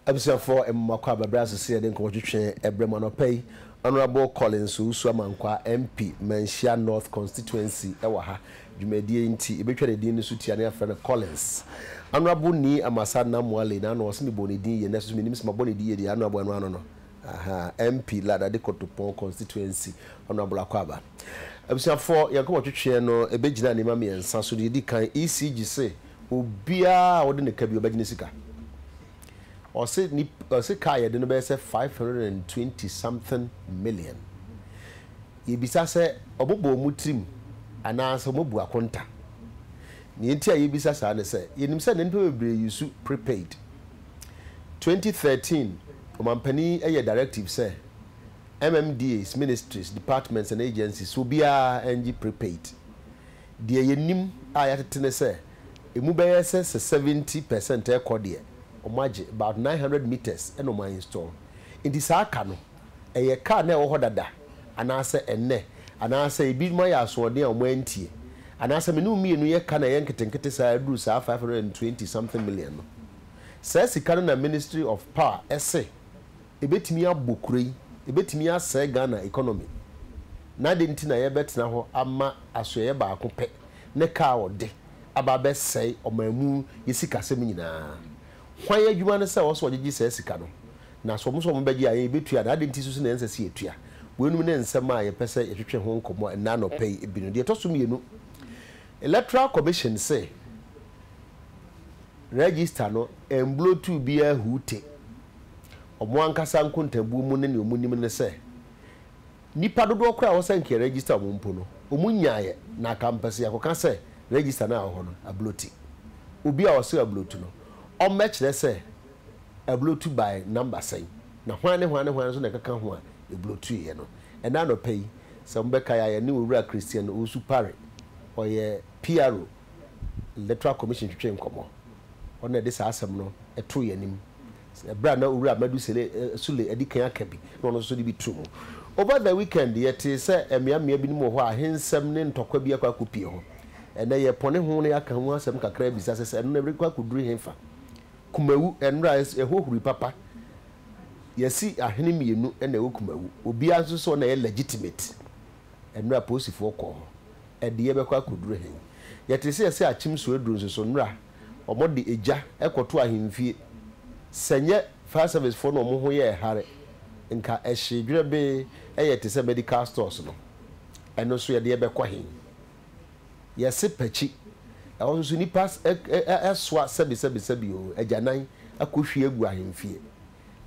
abusuafoɔ mmakɔ abɛbrɛ ase sɛ yɛde nkɔmmɔ twetwe ɛberɛ mu anɔpa yi Honourable Collins Owusu Amankwa MP Manhyia North Constituency wɔ ha dwumadie nti yɛbɛtwa ne din no so tia ne afrɛ no Collins. Honourable Nii Amasa Namoale na ano ɔse mebɔɔ ne din yie nanso so menim sɛ mabɔ ne din yie deɛ Honourable ɛno ano no ahaa MP Lada de Kotopon constituency Honourable Akwaaba. Abusuafoɔ yɛn nkɔmmɔ twetweɛ no ɛbɛgyina nneɛma mmiɛnsa so deɛ ɛdi kan ECG se obiara a ɔde ne ka bi ɔbɛgye ne sika ɔse nip ɔse ka a yɛde no bɛyɛ sɛ five hundred and twenty something million. Yebisa sɛ wɔbobɔ wɔn tirim anaasɛ wɔabu akonta. Nea enti a yebisa saa ne sɛ, yenim sɛ nnipa bebree yusu prepaid. Twenty thirteen Ɔmampanyin yi yɛɛ directive sɛ MMDAs, ministries, departments and agencies, sɛ obiara ngye prepaid. Deɛ yenim a yɛatete ne sɛ emu bɛyɛ sɛ sɛ seventy per cent rekɔ deɛ, wɔagye, about nine hundred meters na wɔainstall. Enti saa ka no. ɛyɛ car no a ɛwɔ hɔ dada anaasɛ ɛnnɛ, anaasɛ ebinom ayɛ asoɔden a wɔantie, anaasɛ me ne wo mmienu yɛ ka na ɛyɛ nketenkete saa ara duru saa five hundred and twenty something million no. Saa sika no na Ministry of Power se ɛbɛtumi abɔ kuro yi, ɛbɛtumi asɛe Ghana economy. Na adɛn nti na yɛbɛtena hɔ ama asoɛeɛ baako pɛ ne car a wɔde aba abɛsɛe ɔman mu yɛ sikasɛm nyinaa? Hwan adwuma ne sɛ ɔsɛ ɔgyegye saa sika no? Na sɛ wɔn sɛ wɔbɛgye a, yɛn yɛbɛtua anaa? Adɛn nti nso na ɛnsɛ sɛ yɛtua? Weinom ne nsɛm a yɛpɛ sɛ yɛtwetwe ho nkɔmmɔ ɛnnɛ anɔpa yi bi no. Deɛ ɛtɔ so mmienu, Electoral Commission se Register no ɛmblɔtuu biara huu te. Wɔn ankasa nkontabuo mu ne nea wɔnim ne sɛ, Nnipa dodoɔ korɔ a wɔsɛ nka yɛ register wɔn mpo no, wɔn nyaeɛ, na aka mpɛ sɛ yɛkɔka sɛ register no a ɛwɔ hɔ no, ablote. Obi a ɔsrɛ ablotu no, ɔmmɛkyerɛ sɛ ablotu by number sɛn, na hwan ne hwan ne hwan nso na ɛkeka ho a yɛblotuiɛ no. Ɛnnɛ anɔpa yi, sɛ mobɛkae a, yɛne Owura Christian Owusu Pare, ɔyɛ PRO, Electoral Commission twetwee nkɔmmɔ. Ɔno na ɛde saa asɛm no too yɛn anim. Bere a na Owura Medusele Sule adi kan aka bi na ɔno nso de bi too mu. Over the weekend, yɛtee sɛ mmeammea binom wɔ hɔ a ahensɛm ne ntɔkwa bi akɔ akopue hɔ. Ɛnnɛ, yɛrepɔne ho na yɛaka ho asɛm kakra abisa sɛ, sɛ ɛno na ɛrekɔ akoduru hefa? Kumawu, Nnora a ɛhohuru papa. Yɛasi ahene mmienu na ɛwɔ Kumawu. Obiara nso sɛ ɔno na ɛyɛ legitimate. Nnora a Posifoɔ kɔɔ hɔ. Ɛde yɛbɛkɔ akoduru he? Yɛtee sɛ yɛasi Akyem Suaduru nso so. Nnora wɔde egya kɔto ahemfie. Sɛ nyɛ fire service foɔ no wɔn ho yɛɛ hare nka ɛhyee dwerɛbee yɛ te sɛ medical stores no. Ɛno nso yɛde bɛkɔ he? Yɛse pakyi. Ɛhɔ nso nnipa soa sɛbesɛbesɛbe o agyanan akɔhwie agu ahemfie.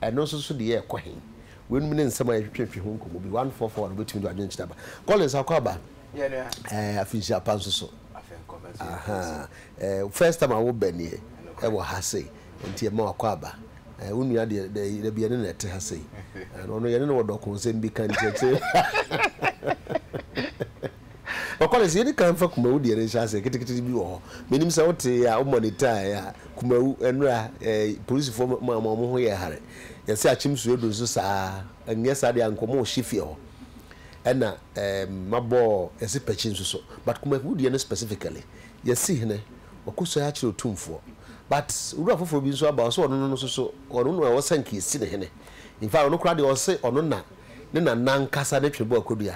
Ɛno nso so deɛ ɛkɔ he? Weinom ne nsɛm a yɛtwetwe fi ho nkɔmmɔ bi. One four four no wobɛtumi de w'adwenkyerɛ aba. Collins akɔ aba. Yeah, no. Eh, afinhyia pa nso so. Aha. Eh, first time a wobɛ nie ɛwɔ ha sei. Nti ɛma wakɔ aba. Eh, wo nua deɛ dɛ yɛda bi yɛne na ɛte ha sei. Ɛno ɔno yɛne no wɔ dɔko nsɛm bi ka nkyerɛkyerɛ. Ɔkɔlɛs yɛdi kan fa kumawu deɛ no nhyɛ ase ketekete bi wɔ hɔ. Menim sɛ wote a wo monitaaɛ a. Kumawu, nnora, eh, polisifo ma wɔn wɔn ho yɛ hare. Yɛse akyem su adu nso saa a, nnyɛ saa deɛ anka wɔn wɔ hye fie hɔ. Ɛna, ehm, mabɔ yɛse pakyi nso so. But Kumawu deɛ no specifically, yɛse hene, wakɔsuae akyerɛ Otumfoɔ. But owura foforɔ bi nso aba, ɔse ɔno no nso so, ɔno na ɔsɛ nka yɛsi no hene. In fact, ɔno koraa deɛ ɔse ɔno na ne nana ankasa ne twebɔ akɔdua.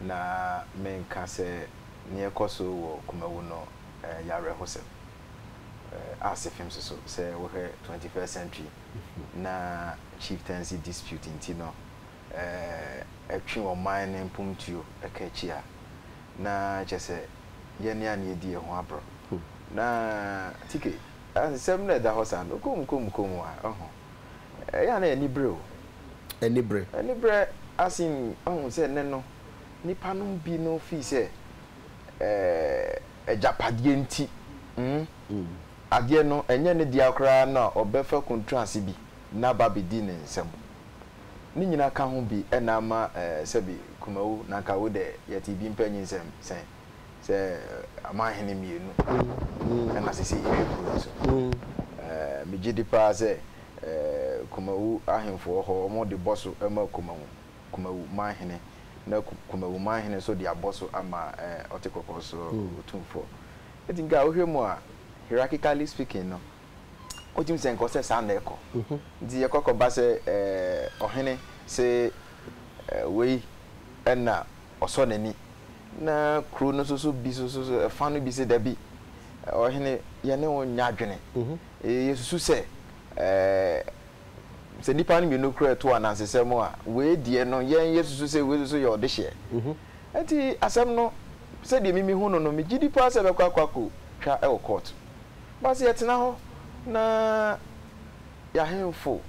na menka sɛ nea ɛkɔ so wɔ kumawu no yɛ awerɛhosɛm. Arts fam nso so, sɛ wohwɛ Twenty First Century na chieftaincy dispute nti no ɛtwe ɔman no mpomtuo ka akyi a, na kyerɛ sɛ yɛne a na yɛdi yɛn ho aborɔ. Na Tike, nsɛm no a ɛda hɔ saa no, koom koom koom a, ɔho. Ɛyɛ a na ɛyɛ anibere o. Anibere. Anibere asen ahu sɛ nnɛ no nnipa no mu bi no fii sɛ agyapadeɛ nti adeɛ no ɛnyɛ ne dea koraa na ɔbɛfa kuntraase bi na aba abɛdi ne nsam. Ne nyina ka ho bi na ama sɛbi Kumau na anka wo dɛ yɛtee bi mpa nyinsɛm sɛn. sɛ amanhene mmienu na sisi hwɛ kuro no so. Megye di paa sɛ Kumawu ahemfoɔ hɔ wɔde bɔ so ma Kumawu Kumawu manhene na Kumawu manhene nso de abɔ so ama Ɔte Kɔkɔɔ so Otumfoɔ. Eti nka wohwɛ mu a hierarchically speaking no wotumi sɛ nka ɔsɛ saa na ɛkɔ. Nti yɛkɔ kɔba sɛ ɔhene se wei ɛna ɔsɔ n'ani, na kuro no nso bi nso so ɛfa no bi sɛ dabi, ɔhene yɛne wo nyɛ adwene. Yɛsusu sɛ sɛ nnipa no mmienu kura ɛto anansesɛ mu a, wei deɛ no yɛn yɛsusu sɛ wei nso yɛ ɔdehyeɛ. Ɛnti asɛm no sɛdeɛ mimi hu no no, megye di paa sɛ ɛbɛkɔ akɔ akɔ twa wɔ kɔɔto. Basi yɛtena hɔ na yɛahemfo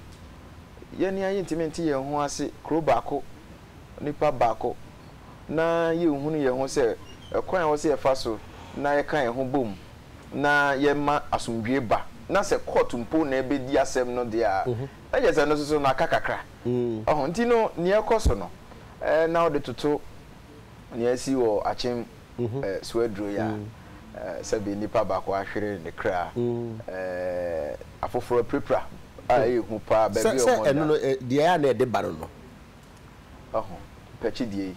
yɛne ayɛ ntumi nte yɛn ho ase kuro baako onipa baako na yɛnhunu yɛn ho sɛ ɛkwan a ɛwɔ sɛ yɛfa so na yɛka yɛn ho bom na yɛma asomdwoe ba, na sɛ kɔɔto mpo na ɛbɛdi asɛm no deɛ a, na kyerɛ sɛ ɛno nso so no aka kakra. Ɔho nti no, nea ɛkɔ so no, na wode toto nea asi wɔ akyem so aduro yi a, sɛbe nnipa baako ahwere ne kra, afoforɔ apirapira a ɛyɛ hu paa, baabi a wɔnda. Sɛ ɛno no, deɛ ɛyɛ a na ɛde ba no no, Wahu, pɛkyi deɛ yi,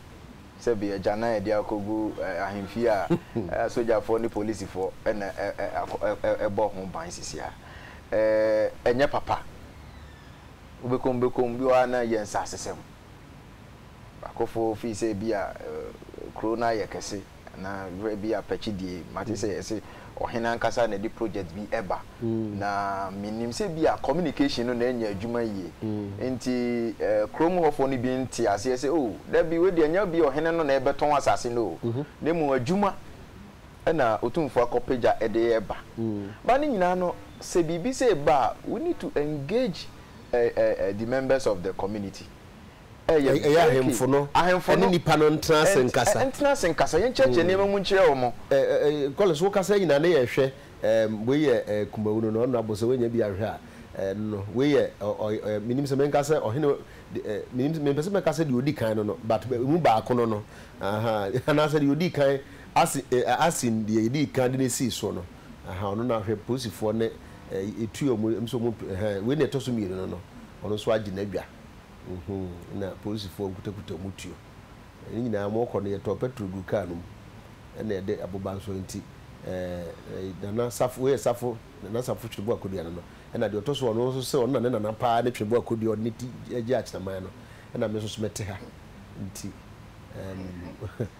sɛbe agya na yɛde akɔgu ahemfie a sogyafoɔ ne polisifoɔ na ɛbɔ ho ban sisi a, ɛnyɛ papa. Wobɛkɔ mu bɛkɔ mu, bi wɔ hɔ a na ɛyɛ nsasesɛm. Akofo fii sɛ ebia kuro no ayɛ kɛse. na berɛ bi apɛkye die mate sɛ ɛsɛ ɔhene ankasa na ɛde project bi ɛba na menim sɛ bi a communication no na ɛnyɛ adwuma yie nti kurom hɔfoɔ no bi nte aseɛ sɛ o da bi wadi anya bi ɔhene no na ɛbɛtɔn asase no o na mmom adwuma ɛna ɔtumfoɔ akɔpagya ɛde ɛba ba ne nyinaa no sɛ biribi sɛ ɛba a we need to engage uh, uh, the members of the community Ɛyɛ very key. Ɛyɛ ahemfo no ne nnipa no ntena ase nkasa. Ntena ase nkasa. Yɛnkyerɛkyerɛ nneɛma mu nkyerɛ wɔn. Collins, wo kasa nyinaa ne yɛhwɛ wei yɛ kumawu no na ɔno abɔ sɛ wanya bi ahwɛ a no wei yɛ menim sɛ menka sɛ ɔhene menim mempɛ sɛ mɛka sɛ deɛ ɔdi kan no no but mu baako no no aha anaasɛ deɛ ɔdi kan ase asin deɛ yɛdi kan de no sii soɔ no aha ɔno na ahwɛ polisifoɔ ne ɛtua mu nso mu wei na ɛtɔ so mmienu no no ɔno nso agye n'adwa Nhuu, na polisifoɔ nkutakuta wɔn tuo. Ne nyinaa wɔrekɔ no, yɛtɔɔ pɛtro guu kaa no mu, ɛna yɛde aboba nso. Enti ɛɛ, Nana Safo, wei yɛ Safo, Nana Safo Twebo Akodua no no, ɛna deɛ ɔtɔ so, ɔno nso sɛ ɔno na ne nana pa ara ne Twebo Akodua a ɔde ne ti gyee Akyinaman no, ɛna me nso so mɛte ha. Enti ɛɛm.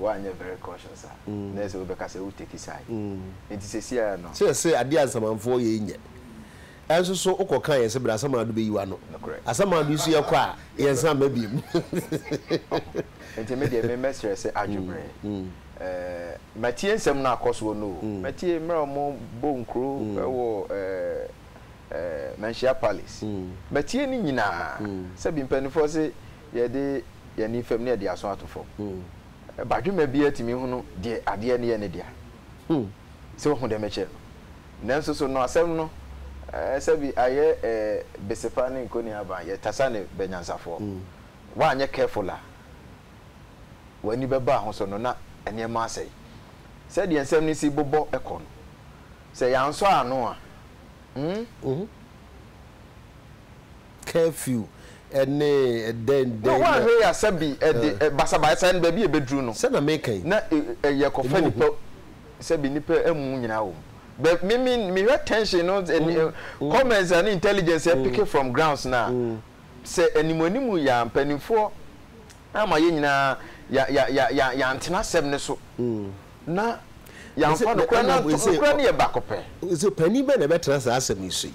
Woanyɛ very cautious a, na ɛsɛ sɛ wobɛka sɛ wo take side. Nti sesiara no. Sɛ yɛse adeɛ a Nsamanfoɔ yɛ yi nyɛ. Ɛnso so wokɔ ka yɛse bra Asamado bɛyi w'ano. Nokorɛ. Asamado nso yɛkɔ a yɛnsan mma biom. Oh. Nti medeɛ me mɛsrɛ sɛ adwo berɛ. Eh, matie nsɛm no a akɔ soɔ no o. Matie mmerɛ a wɔn bɔ nkuro wɔ eh, eh, Manhyia Palace. Matie ne nyinaa. Sɛbi mpaninfoɔ se Yɛde yɛn ani fam na yɛde aso ato fam. Badwemma biara tumi hunu deɛ adeɛ no yɛ ne dea. Sɛ wohu deɛ mekyerɛ no. Nanso so no asɛm no sɛbi ayɛ besepa ne nkɔniaban, yɛtasa ne bɛnyansafoɔ. Woanyɛ careful a, w'ani bɛba ho so no na nneɛma asɛe. Sɛdeɛ nsɛm no si bobɔ kɔ no, sɛ yɛansɔ ano a, hmm? curfew ne dɛn dɛn. Wo anhwɛ yi a sɛ bi ɛde basabaasa no baabi a ɛbɛduru no. Sɛ na meka yi. Na yɛ kɔfa nipa sɛ bi nipa amu nyinaa wɔ mu. But me me me hwɛ tension no comments ne intelligence yɛ picking from grounds no a sɛ anim anim yi a mpaninfoɔ ama yɛ nyinaa ya ya ya ya yantena asɛm no so na yɛamfa no kora na nokora no yɛ baako pɛ. Sɛ panin bɛn na ɛbɛtena saa asɛm yi so yi.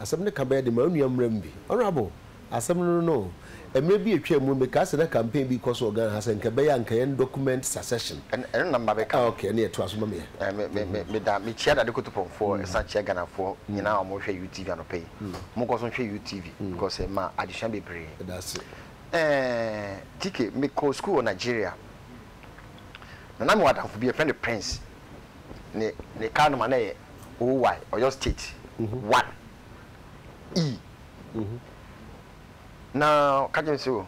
Asɛm no ka bɛyɛ den ma wo nua mmeram bi. Honourable, asɛm no no, mmerɛ bi atwaa mu no mekaa sɛ na campaign bi rekɔ so wɔ Ghana ha sɛ nka ɛbɛyɛ a nka yɛn document succession. Ɛno na maba bɛka ho. Okay, ɛneɛ toa so ma me yɛ. Meda, mekyia Dade Kotopɔmfoɔ ɛsan kyia Ghanafoɔ nyinaa a wɔhwɛ UTV anɔpa yi. Monkɔ so nhwɛ UTV because ɛma adesua bebree. Yɛda ase. TK, mekɔɔ sukuu wɔ Nigeria na na mewɔ adamfo bi yɛfrɛ no Prince. ne ne car number na yɛ OY, Oyo state one E na ɔka kyerɛ me sɛ o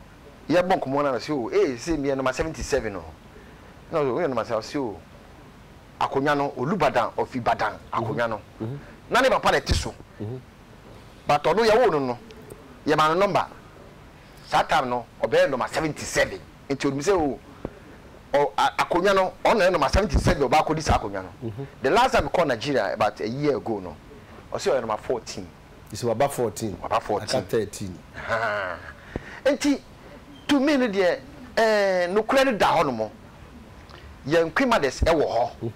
yɛ bɔ nkɔmɔ na ɔsɛ o ee sɛ meyɛ number seventy seven o na ɔsɛ o woyɛ number seventy ɔsɛ o akonwa no Olubadan of Ibadan akonwa no na ne papa na ɛte so but ɔno yɛwoo no no yɛma no number saa time no ɔbɛyɛ number seventy seven. nti onim sɛ o ɔ a akonnwa no ɔno na ɛnam asɛm nti sɛdeɛ ɔba akɔdi saa akonnwa no the last time mekɔɔ Nigeria about a year ago no ɔse ɔyɛ number fourteen. Ɔse waba fourteen waba fourteen aka thirteen. Ahaa nti to me no deɛ ɛɛ nokorɛ no da hɔ nom yɛn Queen Mothers ɛwɔ hɔ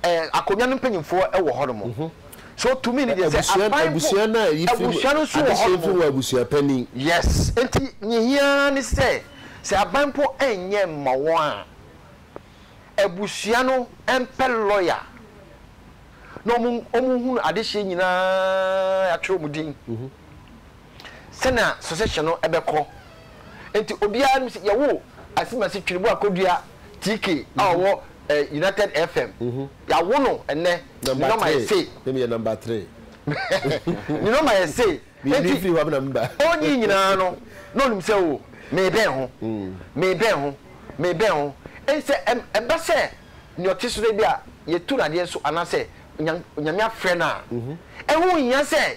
Ɛɛ akonnwa no mpanyinfoɔ wɔ hɔ nom. So to me no deɛ sɛ aban ho abusua no a yi firi mu adehyɛ firi mu abusua panin. Yes nti nea ehia ara ne sɛ sɛ aban mpo nyɛ mma wɔn a abusua no mpɛ lawyer na wɔn wɔn hunu adehyɛ nyinaa yɛatwerɛ wɔn din. sɛnea sɔsɛhyɛ no bɛkɔ. Enti obiara nim sɛ yɛwo Asimasi Twiriboa Kodua TK a ɔwɔ United FM. Yɛawo no ɛnnɛ. Ne nɔma yɛ sei. Ne meyɛ nɔma three. Ne nɔma yɛ sei. Enti ɔnyi nyinaa no, na ɔnim sɛ o, merebɛn ho, merebɛn ho, merebɛn ho. Enti sɛ ɛba sɛ nea ɔte so no ebia yɛatu no adeɛ so anaasɛ Onyame afrɛ no a, ɛho nhia sɛ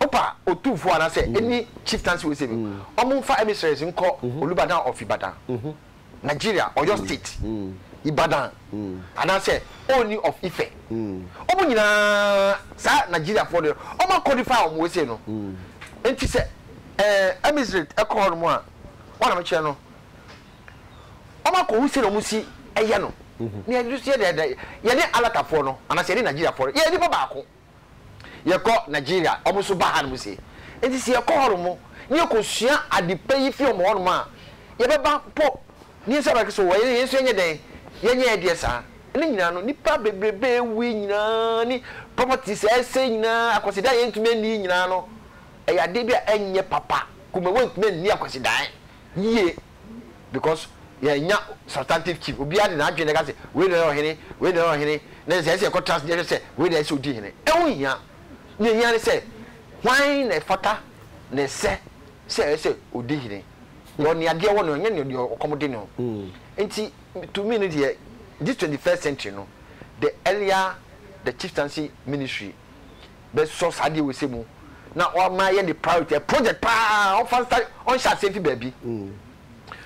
Opa Otumfo ana sɛ ɛni Chieftancy wɔ se no, ɔmo nfa emissaries nkɔ Olubadan of Ibadan, Nigeria, Oyo State, Ibadan, ana sɛ Ooni of Ife. Ɔmo nyinaa saa Nigeriafoɔ deɛ ɔmo a codify ɔmo wɔ se no. Nti sɛ eh emissrate ɛkɔ hɔ nom a, wɔn na me kyerɛ no, ɔmo akɔ hu sɛnea ɔmo si ɛyɛ no. Nea ɛno so yɛ dɛɛdɛ, yɛne Alatafoɔ no, ana sɛ yɛne Nigeriafoɔ no, yɛyɛ nipa baako. Yɛkɔ Nigeria a, wɔn nso ba hanom sei. Enti sɛ yɛkɔ hɔnom na yɛkɔsua ade pa yi fi wɔn hɔnom a, yɛbɛba mpo na yɛn nso abɛka sɛ, O, yɛn nso yɛnyɛ dɛn? Yɛnyɛ yɛn deɛ saa. Ne nyinaa no, nnipa bebrebe a awuwui nyinaa ne properties a asɛe nyinaa, akwasidaeɛ a yɛntumi anni yi nyinaa no, ɛyɛ adeɛ bi a ɛnyɛ papa. Kumawa ntumi nni akwasidaeɛ yie. because yɛnnya substantive chief obiara de n'adwene na ɛka sɛ wei na ɔyɛ ɔhene wei na ɔyɛ ɔhene na ɛsɛ sɛ yɛkɔ trust yɛhwɛ sɛ wei na ɛsɛ sɛ odi hene ɛho hia nea ehia ne sɛ hwan na ɛfata na ɛsɛ sɛ ɛyɛ sɛ odi hene deɛ ɔne adeɛ wɔ no ɛnyɛ nea deɛ ɔkɔm de no nti to me no deɛ this twenty first century no the earlier the chieftaincy ministry bɛsɔ saa adeɛ wei sɛ mu na ɔma ayɛ ne priority ɛ project paa ɔmfa nsa ɔnhyɛ aseɛ mfi baabi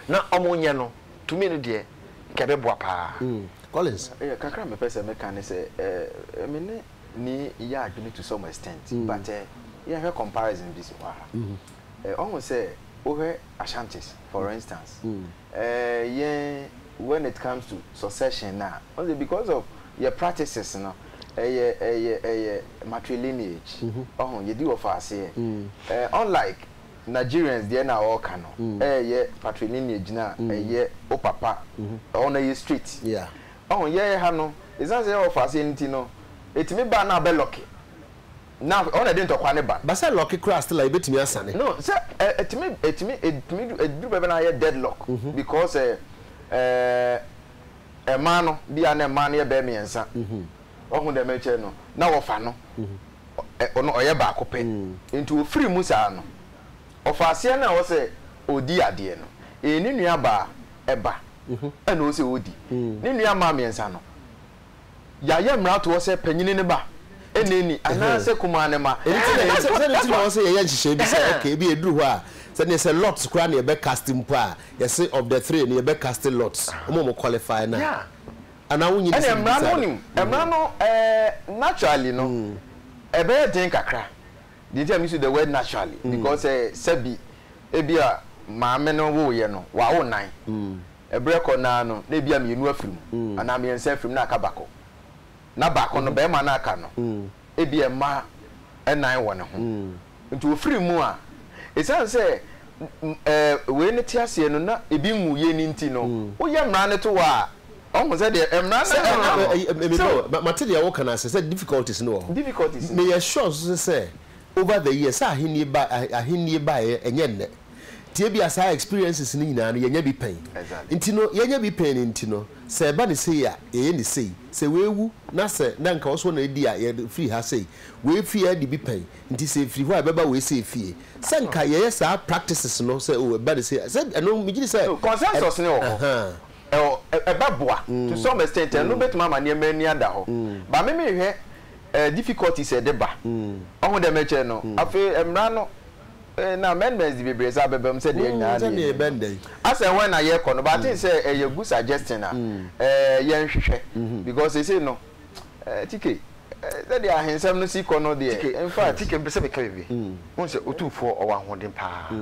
na ɔmo nyɛ no to me no deɛ nka ɛbɛboa paa Collins. Yeah, kakra a mepɛ sɛ meka ne sɛ eh, me ne Nii yɛ adwene to some extent but eh, yɛnhwɛ comparison bi si hɔ a eh, ɔhu sɛ wohwɛ Ashantis for instance yɛn when it comes to succession no a, wohu sɛ because of yɛn practices no, ɛyɛ ɛyɛ ɛyɛ matrilineage, wahu, yɛdi wɔfa aseɛ. Unlike Nigerians deɛ na wɔreka no, ɛyɛ patrilineage no a ɛyɛ wo papa, ɛhɔ no ɛyɛ straight. Wahu, yɛn ha no, ɛsiane sɛ yɛwɔ wɔfa aseɛ no nti no, ɛtumi ba a na abɛ lucky. na ɔno na ɛde ntɔkwa no ba. Ba sɛ lɔke koraa still a yɛbɛtumi asane. No sɛ ɛ ɛtumi ɛtumi ɛtumi du ɛduru baabi a na ayɛ dead lock because ɛ ɛɛ ɛmaa no bi a na ɛmaa no yɛ bɛyɛ mmiɛnsa wahu deɛ merekyerɛ no na wɔfa no ɛ ɔno ɔyɛ baako pɛ nti ɔfiri mu saa no ɔfa aseɛ no a ɛwɔ sɛ ɔdi adeɛ no ɛɛ ne nua baa ɛba ɛna ɔwɔ sɛ ɔdi ne nua mmaa mmiɛnsa no. Yɛayɛ mmaratoɔ sɛ panyini ne ba, nnɛɛni, anaasɛ kumaa ne mma. Ɛno nti na yɛ, sɛ, sɛdeɛ nti na ɛwɔ sɛ yɛyɛ nhyehyɛeɛ bi sɛ, okay, ebia ɛduru hɔ a, sɛ neɛ sɛ Lot's koraa na yɛbɛ cast mpo a, yɛse of the three no, yɛbɛ cast Lot's, wɔn a wɔn qualify no a. Yeah. Anaa wonnim Ɛnna sɛ mmara no, mebisa no? wonim, mmara no, eh, naturally no, ɛbɛyɛ den kakra. Deɛ nti a me use the word naturally, because eh, sɛbi, ebia maame no woeɛ no, wawo nnan. Ɛberɛ kɔ no ara no, na ebia mmienu afiri mu, anaa mmiɛnsa afiri mu, na aka baako. Na baako no, barima no a aka no, ebia mma nnan wɔ ne ho. Nti ɔfiri mu a, ɛsiane sɛ wei no te aseɛ no, na ebi nwuiɛ no nti no, woyɛ mmara no to hɔ a, ɔhu sɛ deɛ mmara no ka no no. So. Mate deɛ woka no ase, sɛ difficulties no wɔ hɔ. Difficulties no. Meyɛ sure nso sɛ over the years, sɛ ahennie baeɛ, ɛnyɛ nnɛ. Nti ebia saa experiences no nyinaa no yɛnya bi pɛn. Nti no yɛnya bi pɛn no nti no sɛ ɛba no sei a yɛyɛ no sei. Sɛ wei wu na sɛ na nka ɔso na adi a yɛfiri ha sei. Wei fie a yɛde bi pɛn nti sɛ ɛfiri hɔ a ɛbɛba wei sei fie. Sɛ nka yɛyɛ saa practices no sɛ oh ɛba no sei a sɛ ɛno megye di sɛ So consensus no wɔ hɔ. ahaa. Ɛwɔ ɛ ɛbɛboa to some extent ɛno bɛtumi ama nneɛma ani ada hɔ but me mehwɛ eh difficulties a ɛde ba. Ɔho deɛ mekyerɛ no afei mmara no. Eh, na amendments de bebree saa bɛba mu sɛ deɛ nyinaa na yɛnim no. Asɛ wɛn na yɛkɔ no, but I think sɛ ɛyɛ good suggestion a eh, yɛnhwehwɛ because seesei no eh, TK, sɛdeɛ ahensɛm no si kɔ no deɛ, in fact. TK, mepɛ sɛ meka biribi. Wohu sɛ Otumfoɔ ɔwɔ ahoɔden pa ara.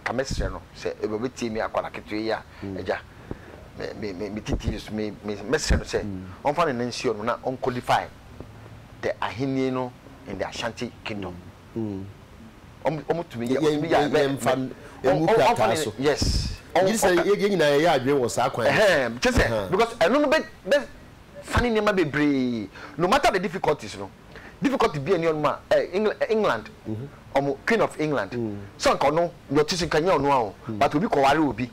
Anka mɛsrɛ no sɛ ebia ɔbɛtie me akwadaa ketewa yi a, Agya, me, me, me, mete TV so, me, me, mɛsrɛ no sɛ ɔmfa ne nan nsi hɔ nom na ɔnkɔdify the Ahenni no in the Ashanti Kingdom. Wɔtumi yɛ wɔtumi yɛ a. Yɛmfa ngu krataa so. Yes. Gye sɛ yɛn nyinaa yɛyɛ adwene wɔ saa kwan no so. Kyɛ sɛ because ɛno no bɛ sane nneɛma bebree no matter the difficulties no difficulty bi a ɛni ɔnom a England wɔn Queen of England sɛ nka ɔno deɛ ɔte so nka nyɛ ɔno a o but obi kɔware obi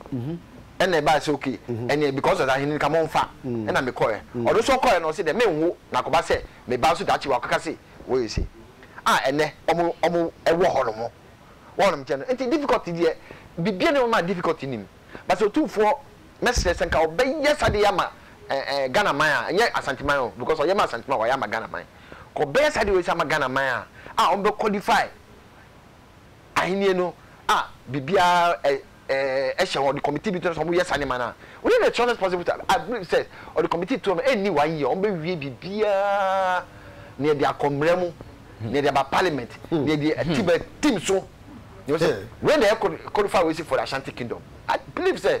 ɛna ɛbaa sɛ okay ɛneɛ because ɔsɛ ahene nka monfa ɛna mekɔɛ ɔno nso ɔkɔɛ no ɔsɛ deɛ menwo na akɔba sɛ meba nso daakye wakɔka se wɔyɛ se a ɛnɛ ɔmo ɔmo ɛwɔ hɔ nom wɔ ɔnom nkyɛn no nti difficulty deɛ bibia nni hɔ ma difficulty nim but sɛ otumfoɔ mɛsrɛ sɛ nka ɔbɛyɛ sa deɛ ama ɛɛ ɛɛ Ghana man a nyɛ Asante man o because ɔyɛ ma Asante man wayɛ ama Ghana man kɔ ɔbɛyɛ sa deɛ ɔyɛ sa ama Ghana man a a ɔmo bɛ qualify Ahenni no a biribiara hyɛ wɔn, ɔde committee bi to hɔ sɛ wɔnyɛ saa nneɛma no a, within the shortest possible time, I believe sɛ ɔde committee to hɔ no, ɛnni one year, wɔbɛwie biribiara, nea ɛde akɔ mmara mu, nea ɛde aba parliament, nea ɛde ati ba tim so. Nea ɔsɛ, wei na ɛyɛ codified wei si for the Ashanti Kingdom. I believe sɛ.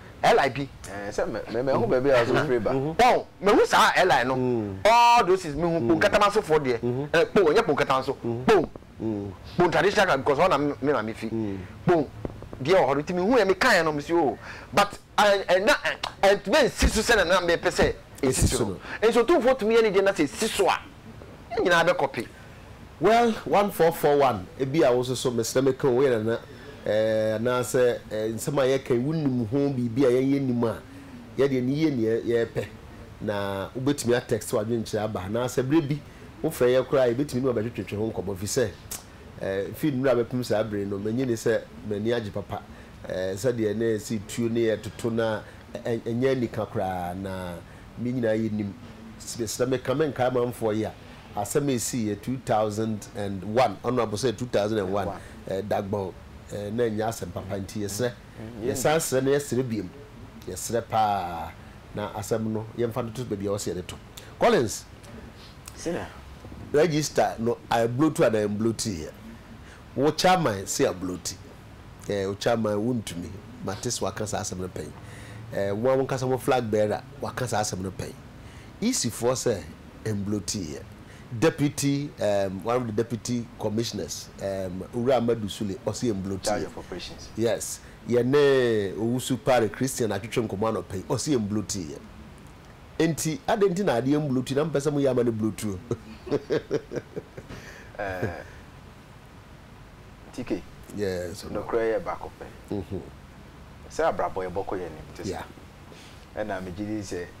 Eli bi. Ɛɛ sɛ mɛ mɛ mɛhu baabi a ɔso firi ba. Wɔn mɛhu saa Eli no. All those things mehu kpon katama so foɔ deɛ. Ɛɛ kpon ɛnyɛ kpon katama so kpon kpon traditional ka because ɔna me maame fi kpon deɛ wɔ hɔ no nti mehu yɛ meka yɛ no mesi oo but ɛna ɛntumi nsi so sɛnɛ na mepɛ sɛ esi so no nso tumfoɔ tumi yɛ ne deɛ na sɛ esi so a yɛn nyinaa bɛkɔpe. Well one four four one ebi a wo nso so mesrɛ me ka o woyɛ nana eh anaa sɛ eh nsɛm a yɛka yi wonim ho biribi a yɛn yɛ nim a yɛ deɛ ne yie neɛ yɛpɛ na wobɛtumi a text wadwenkyerɛ aba anaa sɛ berɛ bi wo frɛ yɛ koraa yɛbɛtumi ne wabɛtwetwetwe ho nkɔmmɔ fi sɛ eh fi nnura bɛpem saa bere no mɛnyi ne sɛ m'ani agye papa eh sɛ deɛ ne si tuo ne yɛ toto na ɛnyɛ anika koraa na me nyinaa yɛ nim mesrɛ me ka me nkae amanfoɔ yi a Asɛm a esii yɛ two thousand and one ɔno abosɛ yɛ two thousand and one eh dagbɔn eh na ɛnyɛ asɛm papa nti yɛsrɛ yɛsan srɛ na yɛsrɛ biom yɛsrɛ paa na asɛm no yɛnfa no to baabi a ɛwɔ sɛ yɛde to Collins sɛ register no ablotu anaa ɛmblotiiɛ wo chairman se abloti eh wo chairman wontumi mate sɛ waka saa asɛm no pɛn eh mo a monkasa mo flag bearer waka saa asɛm no pɛn EC foɔ sɛ mblotiiɛ. Deputy um one of the deputy commissioners um Owura Amadu Sule ɔse mblotiiɛ. Yes, yɛne Owusu Pare Christian atwetwe nkɔmmɔ anɔpa yi, ɔse mblotiiɛ. Enti adɛn nti na adeɛ mblotu na mompɛ sɛ moyɛ ama no blotuo? Eh, TK, Yes, Owura. nokorɛ yɛ baako pɛ. Mhm. Sɛ abrabɔ yɛbɔkɔ yɛn anim te saa. Yeah. Ɛna megye di sɛ.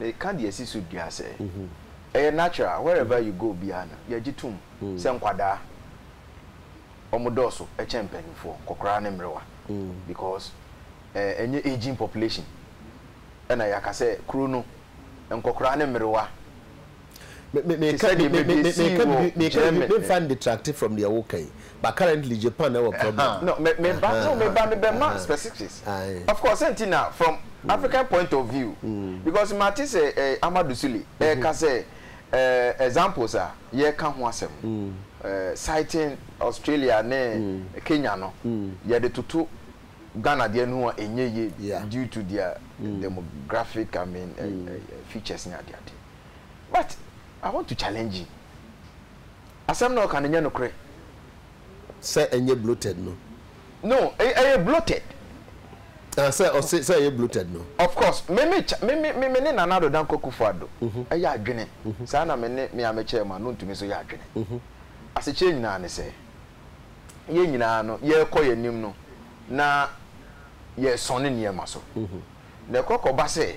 Meka deɛ ɛsi so dua sɛ, ɛyɛ natural, wherever you go biara no, yɛgye tom sɛ nkwadaa, wɔdɔɔso kyɛn mpanimfoɔ, nkɔkoraa ne mmerewa, because ɛnyɛ ageing population, ɛna yɛaka sɛ kuro no, nkɔkoraa ne mmerewa Meka bi, meka bi, meka bi, memfa no detracte from deɛ woka yi, but currently Japan na ɛwɔ problem. Aha, no, me, me ba, no, me ba, me bɛ ma specifics. Of course, sɛnti na from African point of view, because ma te sɛ eh, Amadu Sule, eh, ka sɛ eh, examples a yɛ ka ho asɛm, eh, citing Australia ne Kenya no, yɛ de toto Ghana deɛ no ho a, ɛnyɛ yie due to their demographic, I mean, eh, eh, features ne adeadeɛ. But I want to challenge you, asɛm na ɔka no nyɛ nokorɛ. Sɛ ɛnyɛ bloated no. No, ɛyɛ bloated. Ah, sɛ ɔse sɛ ɛyɛ bloated no. Of course, me me kya, me me me ne Nana Addo Dankwa Kuffo Addo yɛ adwene saa na me ne me ara me chairman no ntumi nso yɛ adwene. Asekyerɛ nyinaa ne sɛ, yɛn nyinaa no yɛrekɔ yɛn anim no na yɛresɔne nneɛma so. Na ɛkɔ kɔba sɛ,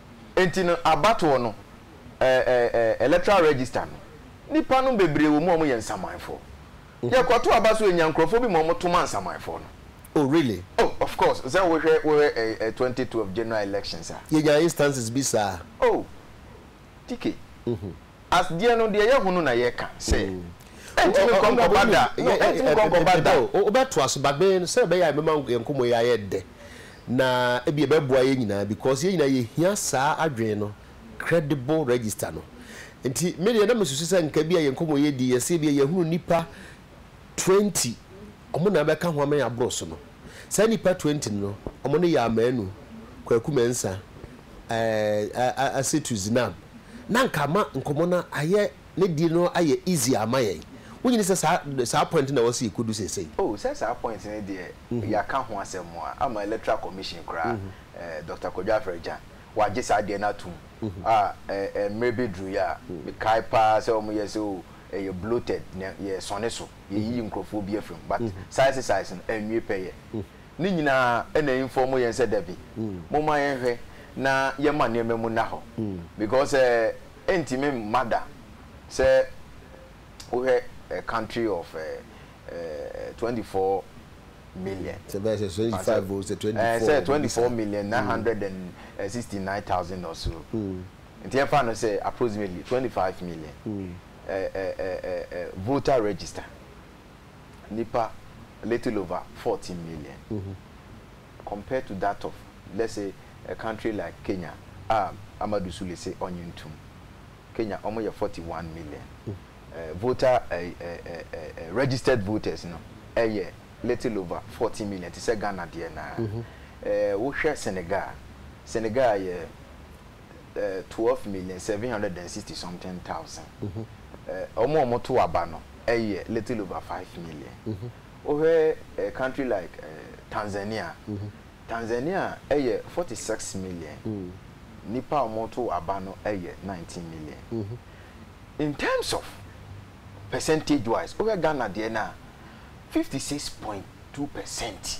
Enti no abatoɔ no eh eh eh electoral register no nipa nom bebree wɔ mu a wɔyɛ nsamanfoɔ. Yɛkɔto aba so yɛnya nkorɔfoɔ bi ma wɔto ma nsamanfoɔ no. Oh really? Oh of course sɛ wohwɛ wohwɛ eh eh twenty twelve general elections a. Yɛnyaa instances bi saa. Oh TK. As deɛ no deɛ yɛ hunu na yɛ ka sɛ ɛntumi nkɔ nkɔba da no ɛntumi nkɔ nkɔba da. Wo bɛ to aso but me no sɛdeɛ ɛbɛyɛ a ɛbɛma yɛn nkɔmɔ yi ayɛ dɛ na ebia ɛbɛboa yɛn nyinaa because yɛn nyinaa yɛ hia saa adwene no credible register no nti me deɛ na me susu sɛ nka ebia yɛn nkɔmɔ yɛ di yɛ sɛ ebia yɛ hunu nipa twenty ɔmo na ɛbɛka ho ama yɛn aboro so no, saa nnipa twenty no ɔmo ne Yaa Manu, Kwaku Mɛnsa, ɛɛ Asetu Zinam na nka ama nkɔmɔ no ayɛ ne deɛ no ayɛ easy ama yɛn. Wo nyini sɛ saa saa point no na ɛwɔ sɛ yɛkɔdu seesei? Oh sɛ saa point no deɛ yɛaka ho asɛm a ama Electoral Commission koraa ɛɛ Doctor Kwadwo Afrɛgyan wagye saa deɛ no ato mu a ɛɛ mmerɛ bɛduru yɛ a mekae paa sɛ ɔmo yɛ sɛ oh. ɛyɛ bloated na yɛ sɔne so yɛ yiyi nkorɔfoɔ bi afiri mu but saa exercise no ɛnwie pɛyɛ ne nyinaa ɛna inform yɛn sɛ dabi momma yɛn hwɛ na yɛn ma nneɛma mu nna hɔ because ɛɛ ɛntumi mma da sɛ wohwɛ a country of ɛɛ ɛɛ twenty four million sɛ bɛyɛ sɛ twenty five o sɛ twenty four ɛɛ sɛ twenty four million nine hundred and sixty nine thousand or so Nti yɛmfa no sɛ approximately twenty five million ɛ ɛ ɛ ɛ ɛ voter register nipa little over fourteen million compared to that of let's say a country like Kenya a Amadu Sule se ɔnye ntom Kenya ɔmo yɛ forty one million ɛ voter ɛ ɛ ɛ ɛ ɛ registered voters no ɛyɛ little over fourteen million te sɛ Ghana deɛ naa ɛ wohwɛ Senegal Senegal yɛ ɛɛ twelve million seven hundred and sixty something thousand. Wɔn a wɔto aba no yɛ little over five million. Wohwɛ a country like ɛɛ Tanzania, Tanzania yɛ forty six million. Nnipa a wɔto aba no yɛ nineteen million. In terms of percentage wise, wohwɛ Ghana deɛ no a, fifty six point two percent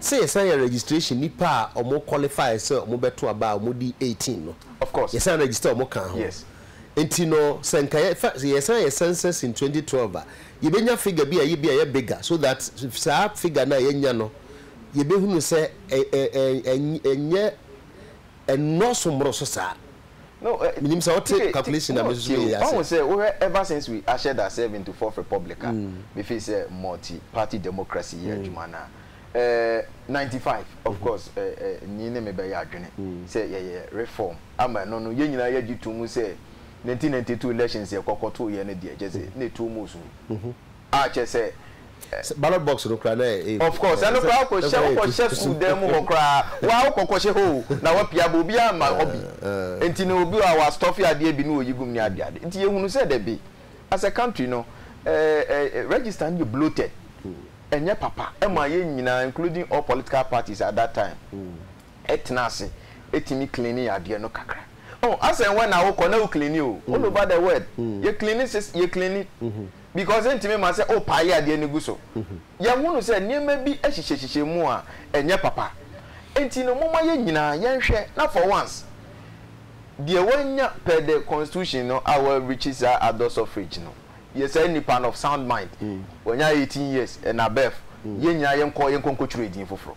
Sɛ yɛsan yɛ registration nnipa a wɔn qualify sɛ wɔn bɛto aba a wɔn di eighteen no. Of course. Yɛsan register wɔn kaa ho. Yes. Nti no sɛ nka yɛ fa sɛ yɛsan yɛ census in twenty twelve a yɛ bɛ nya figure bi a yɛ bi a yɛ bigger so that saa figure no a yɛ nya no yɛ bɛ hunu sɛ ɛ ɛ ɛ ɛnyɛ ɛnyɛ ɛnnɔɔso mmoroso saa. Menim sɛ wote calculation a mesusu yɛ ase. Wahu sɛ wohwɛ ever since we ushered ourselves into fourth republic a, me feel sɛ multi party democracy yɛ adwuma no a, eh, ninety five, of course, eh, eh, Nii ne me bɛyɛ adwene sɛ yɛyɛ reform ama ɛno no, yɛn nyinaa yɛgye to mu sɛ nineteen ninety two elections yɛkɔ kɔtoeɛ no deɛ, kyerɛ sɛ na ɛtu mu sum. Ah kyerɛ sɛ eh. Sɛ ballot box no koraa na ɛyɛ Of course ɛno koraa wokɔhyɛ wokɔhyɛ sukuu dan mu hɔ koraa waa wokɔ kɔhyɛ hoo na wapia aba obiara mma hɔ bi nti no obi wɔ hɔ a wa stuff adeɛ bi na ɔyi gum ne ade ade nti yɛhunu sɛ dabi as a country no eh eh register no yɛ bloated ɛnyɛ papa ɛma yɛn nyinaa including all political parties at that time ɛtena ase ɛtumi clean yɛn adeɛ no kakra oh as and when a wokɔ na wo clean o all over the world yɛ clean yɛ clean. because ɛntumi ma sɛ wo pile adeɛ no gu so. Yɛhunu sɛ nneɛma bi hyehyɛhyehyɛ mu a ɛnyɛ papa. Enti no momma yɛn nyinaa yɛnhwɛ na for once deɛ wanya per the constitution no a wa reach saa adult suffrage no yɛ saa nipa no of sound mind, wanya eighteen years and above, yɛn nyinaa yɛnkɔ yɛnkɔ nkɔtwerɛ edin foforɔ.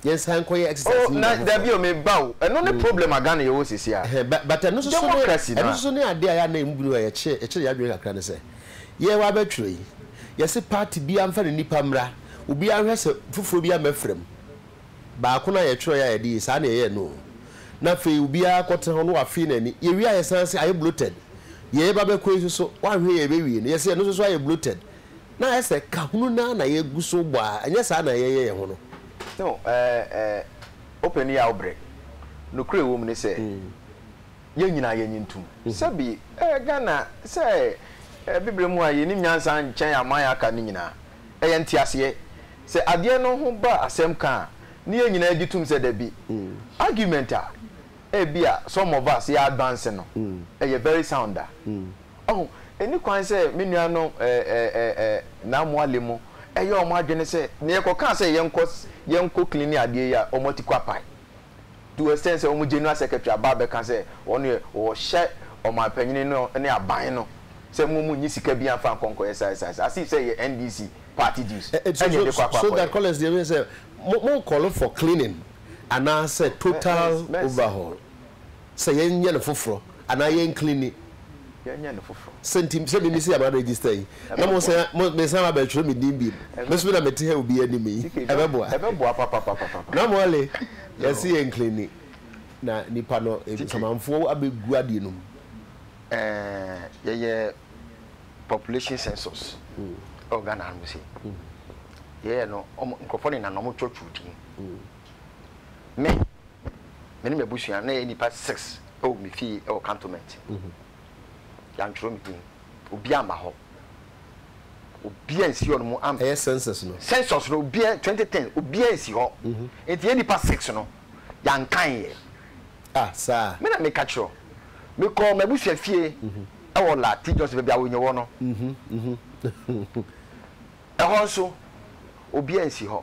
yɛnsan nkɔyɛ exercise oh, na dabi o me ba o ɛno ne mm. problem a Ghana yɛwɔ sisi a but ɛno soso ne ɛno soso ne adeɛ a yɛ anan mu bi no a yɛkyerɛ yɛkyerɛ yɛ adwene kakra ne sɛ yɛwɔ abɛtwerɛ yi yɛsi party bi anfa ne nipa mmra obi ahwɛ sɛ foforɔ bi amɛfrɛ mu baako na yɛtwerɛ yɛ a yɛde yi saa na yɛyɛ no na afei obiara kɔtena hɔ no wafee n'ani yɛwie a yɛsan se ayɛ bloated yɛyɛ ba bɛkɔ yi soso wahwɛ yɛ bɛwie no yɛsɛ ɛno soso ayɛ bloated Na ayɛ sɛ kahunu no ara na yɛgu so bɔ a, ɛnyɛ saa na yɛyɛ yɛn ho no. No, eh, eh, wopɛ ne yɛ a wobrɛ. Nokorɛ wɔ mu ne sɛ, yɛn nyinaa yɛnnye ntom. Sɛbi, eh, Ghana, sɛ, eh, Bibire mu a yɛnim nyansa nkyɛn aman a aka no nyinaa. Ɛyɛ nteaseɛ. Sɛ adeɛ no ho ba asɛm ka a, ne yɛn nyinaa gye tom sɛ dabi. Argument a, ebia, some of us, yɛ advance no, ɛyɛ very sound a, Ɔho, ɛnni kwan sɛ me nuanom Namoale mo ɛyɛ wɔn adwene sɛ nea yɛkɔ kaa sɛ yɛnkɔ yɛnkɔ cleane adeɛ yi a wɔn ati kɔ apae to extent sɛ wɔn general secretary aba abɛka sɛ wɔn yɛ wɔhyɛ ɔmanpanyini no ne aban no sɛ mo mo nyi sika bi anfa nkɔ nkɔyɛ saa saa saa as if sɛ yɛ NDC party dues ɛne yɛde kɔ akɔ akɔyɛ. So that Collins deɛ wei sɛ mo mo nkɔlo for cleaning anaasɛ total overhaul. Sɛ yɛn nyɛ no foforɔ anaa yɛn cleani. Yɛn nyɛ no foforɔ. Sɛ nti sɛ mimi sɛ yɛ ma register yi na mo san mo me san ba bɛ twerɛ me din biem me so mi na me te ha obi anim yi ɛbɛ boa. Ɛbɛ boa papapapapa. Na mɔle yɛ se yɛn cleani na nipa no samanfoɔ abɛ gu adeɛ no mu. Ɛɛ yɛ yɛ population census ɛwɔ Ghana ha nom sei yɛ yɛ no ɔmo nkorɔfoɔ nenam na ɔmo twerɛ twerɛ din Me, me ne m'abusua na yɛyɛ nnipa six wɔ me fie wɔ cantonment. Yɛantwerɛ me din. Obi amma hɔ. Obi ansi hɔ no mu am. Ɛyɛ census no. Census no obi twenty ten obi ansi hɔ. Nti yɛn nnipa six no yɛankan yɛ. Ah saa. Me na meka kyerɛ o. Mekɔɔ m'abusua fie wɔ La T Johnson baabi a Awonye wɔ no. Ɛhɔ nso obi ansi hɔ.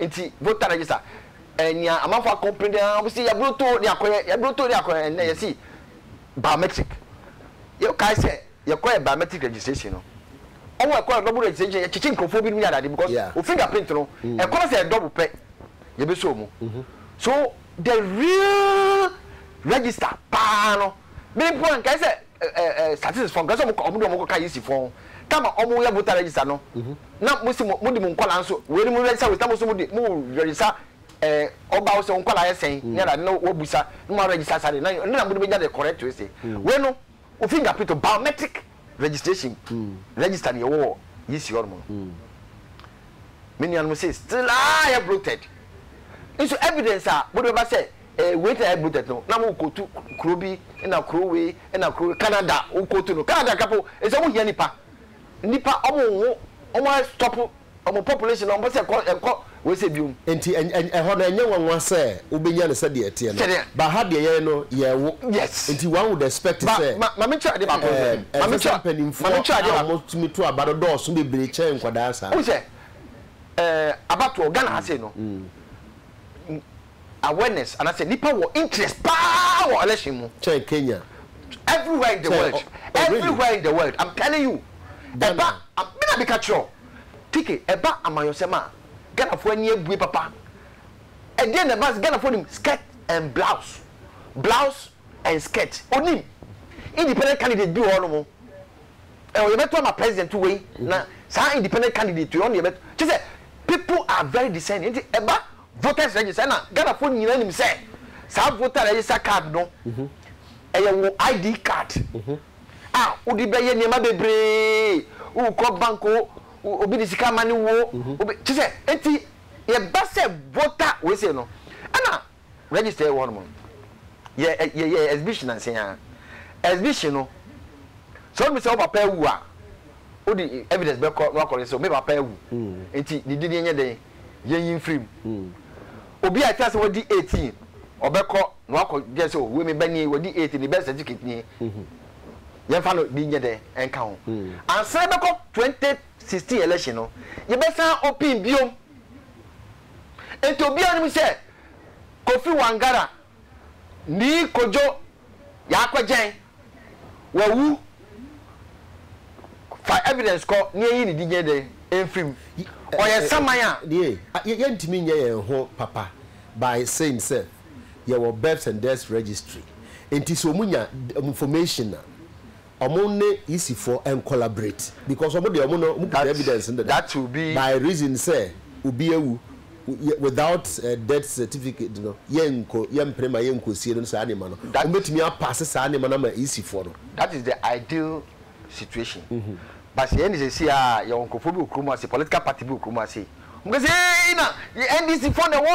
Nti voter register eh nea amanfo a complain eh ɔmo se yɛbrotoo ne akɔyɛ yɛbrotoo ne akɔyɛ ɛnɛ yɛse biometric yɛ kae sɛ yɛkɔyɛ biometric registration no ɔmo ɛkɔ yɛ double registration yɛkyekye nkorɔfoɔ binom ne adeade because Yeah. wo finger print no ɛkɔ no sɛ yɛ double pɛ yɛbɛsɔ mu so the real register paa no me mpo ankae sɛ eh eh statistics fɔ nka sɛ ɔmo de ɔmo kɔ ka yisi fɔ ho tam a ɔmo yɛ voter register no na mo si mo mo de mo nkɔla nso wei ni mo register wei na mo nso mo de mo register eh ɔba wo sɛ wo nkɔla yɛ sɛn ne ada na wa busa na mo register saa de na ne na mo de bɛ gya de correct wei se wei no wo finger print o biometric registration register ni yɛ wɔ yisi hɔ nom no me nua nom se still ah yɛ bloated nso evidence a mo de bɛ ba sɛ. Eh wait na yɛ budget no na mo kotu kuro bi na kuro wei na kuro wei Canada wo kotu no Canada nka po ɛsɛ ɔmo hia nipa nipa ɔmo nwo ɔmo a stop ɔmo population ɔmo pɛ sɛ ɛkɔ ɛnkɔ wei sɛ biom. Nti ɛhɔ no ɛnyɛ nwanwa sɛ wo bɛnya no sɛdeɛ ɛteɛ no Sɛdeɛ. but ha deɛ yɛn no yɛn wo Yes. nti one would expect Ba sɛ ma ma me kyerɛ adeɛ baako nso eh ma me ɛnsɛ sɛ kyerɛ ma me mpanimfoɔ kyerɛ adeɛ a baako wɔn tumi to aba no dɔɔso bebree kyɛn nkwadaa saa. Wohu sɛ eh abatoɔ Ghana ha sei no awareness anasɛ nipa wɔ interest paa wɔ election mu kyɛn Kenya everywhere in the kyɛn world ɔ ɔ really everywhere in the world I'm telling you ɛba Ghana a me na me ka kyerɛ wo TK ɛba amanyɔsɛm a Ghana foɔ ani abue papa ɛdeɛn na ɛba Ghana foɔ nim skirt and blouse blouse and skirt onim independent candidate bi wɔ hɔ nom ɛ ɔyɛ bɛto ama president wei na saa independent candidate wei ɔno yɛ bɛto kyɛ sɛ people are very discerning nti ɛba. voters register na Ghanafoɔ nyinaa nim sɛ saa voter register card no ɛyɛ wo ID card a wode bɛyɛ nneɛma bebree wokɔ bank o obi de sika ama ne wo o kyɛ sɛ enti yɛba sɛ voter wei sei no ɛna register wɔ hɔnom yɛ yɛ yɛ exhibition nansen a exhibition no sɛ wode sɛ wo papa awu a wode evidence bɛkɔ na wakɔ register me papa awu enti ne din yɛnyɛ dɛn. yɛnyi mfiri mu. Obi a ɛte ase wadi eighteen, ɔbɛkɔ na wakɔ gye sɛ wei me ba nie, wadi eighteen, ne birth certificate nie. Yɛmfa no bi nyɛ dɛ nka ho. Ansa yɛbɛkɔ twenty sixteen election no, yɛbɛsan opin biom. Nti obiara nim sɛ Kofi Wangara Nii Kojo Yaakwagyɛn wawu fa evidence kɔ na yɛnyi ne din dɛn mfiri mu. Ɔyɛ saman a. Deɛ yɛntumi nyɛ yɛn ho papa by saying sɛ yɛwɔ births and deaths registry nti sɛ wɔn nya information a Ɔmo ne yisifoɔ ɛncollaborate because ɔmo deɛ ɔmo no ɔmo kuta evidence no dada by reason sɛ obi awu without death certificate no yɛnko yɛmpene ma yɛnkosie no saa nneɛma no ɔmo bɛtumi apaase saa nneɛma no ama yisifoɔ no. That is the ideal situation but sɛ yɛn de seesei aa yɛwɔ nkorɔfoɔ bi wɔ kurom ase political party bi wɔ kurom ase ɔmo ka sɛ eei na yɛ NDC foɔ na ɛwɔ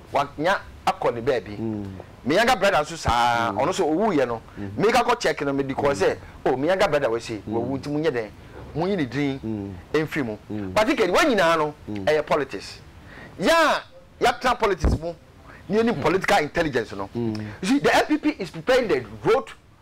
Wanya akɔ ne baabi. Me younger brother nso saa ara, ɔno nso ɔwuiɛ no, meka kɔ check no, mede kɔɔ sɛ, oh, me younger brother wei sei, wawu nti monyɛ dɛn? Monyi ne din mfiri mu. But ne kadi, wei nyinaa no, ɛyɛ politics. Yɛn a yɛatena politics mu na yɛnim political intelligence no, you see, the NPP is preparing the road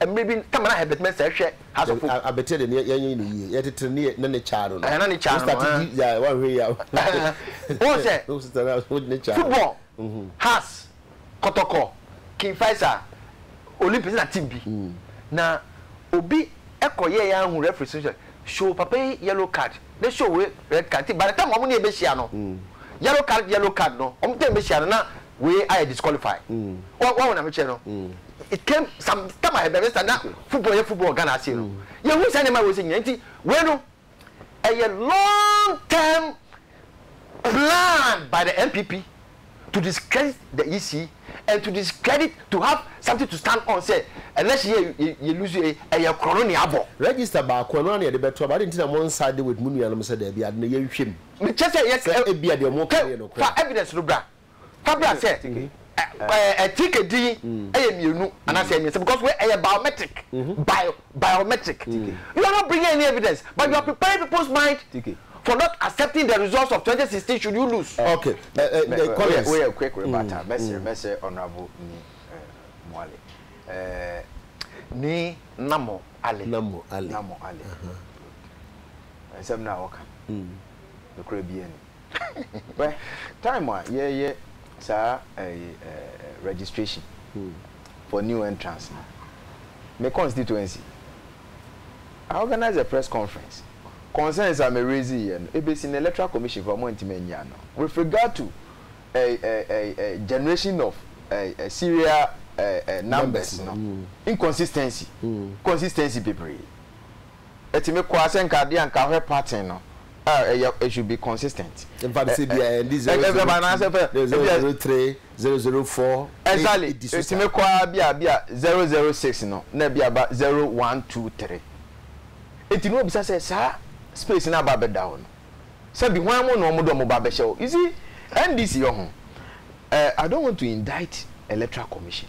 mmerɛ bi kama na Herbert Messer hwɛ House of Hope. Abɛtire de ne yɛnye no yie yɛte tire ne ne ne kyaa no no. Ɛɛ na ne kyaa no no. Wostate di ya wanhwɛ ya. Wohu sɛ football has kɔtɔkɔ King Faisal Olympics na team bi na obi kɔ yɛ yɛ ahu referee so sɛ show papa yi yellow card na show wei red card nti by the time wɔn ne yɛ bɛhyia no yellow card yellow card no wɔn ne yɛ bɛhyia no na wei ayɛ disqualify wahu na mekyerɛ no it came some time ahead bɛbɛ sa na football yɛ football Ghana ase no yɛhu saa nneɛma wɔ sɛ nyina nti wei no ɛyɛ long term plan by the NPP to discredit the EC and to discredit to have something to stand on sɛ election yɛ yɛ lose yɛ ɛyɛ korɔ no ne abɔ. Register baako ɛno ara na yɛde bɛto aba adi nti na mo nside with mo nuanom sɛ daabi ade no yɛnhwɛ mu. Mekyɛ sɛ yɛ sɛ ebia deɛ ɔmo ka no yɛ nokorɛ a. Fa evidence no bra. Fabra sɛ ɛ tike din ɛyɛ mmienu anaasɛ ɛyɛ mmiɛnsa because wei ɛyɛ biometric bio biometric you are not bringing any evidence but you are preparing people's mind for not accepting the results of 2016 should you lose. ok ɛ Collins woyɛ quick rebata mɛsrɛ mɛsrɛ honourable ni Moale ɛɛ. Ni Namo Ale Namo Ale Namo Ale nsɛm no a wɔka no nokorɛ biara ni. Hwɛ, time a yɛreyɛ saa ɛyi ɛɛ registration for new entrance no, me constituency, I organise a press conference, concerns a me raise yɛ no, ebesi nnɛ electoral commission koraa wɔn antumi anyi ano with regard to ɛyi ɛyi ɛyi generation of ɛyi serial ɛyi numbers no, inconsistency, consistency bebree. ɛtumi kɔ ara sɛ nka adeɛ a nka ahwɛ pattern no a ɛyɛ it should be consistent. Nfa no sɛ ebi a ɛndi zero zero two anaasɛ fɛ zero zero zero three zero zero four exactly edi so saa ɛtumi kɔ ara bi a bi a zero zero six no na bi a ba zero one two three eti na obisa sɛ saa space na aba abɛda hɔ no sɛbi hwan mu na wɔn de wɔn ba abɛhyɛ hɔ you see NDC yɛ ho ɛɛ I don't want to indict electoral commission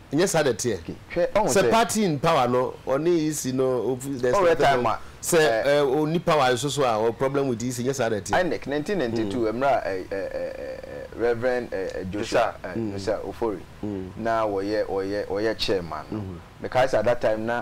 Nyɛ saa na ɛteɛ. Sɛ party in power no ɔne EC no there is nothing wrong. Sɛ ɔnni power nso so a ɔwɔ problem with EC nyɛ saa na ɛteɛ. Inec ne nte ne nte tu ɛmmerɛ a Rev. Joshua Nusah Ofori na ɔyɛ chairman no. Mekae sɛ at that time na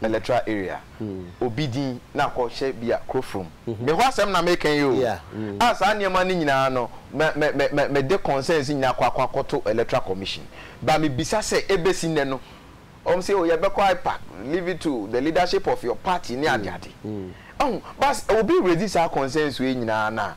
electoral area, obi din na akɔ hyɛ bi a kuro from. Me hɔ asɛm na meka yi oo, a saa nneɛma no nyinaa no mɛ mɛ mɛ mɛ me de concerns nyinaa akɔ akɔ akɔto electoral commission, but me bisa sɛ ɛbɛsi nnɛ no wɔn se oo yɛbɛkɔ IPAC, leave it to the leadership of your party ne ade ade, ɔho, but obi raise saa concerns wei nyinaa no a.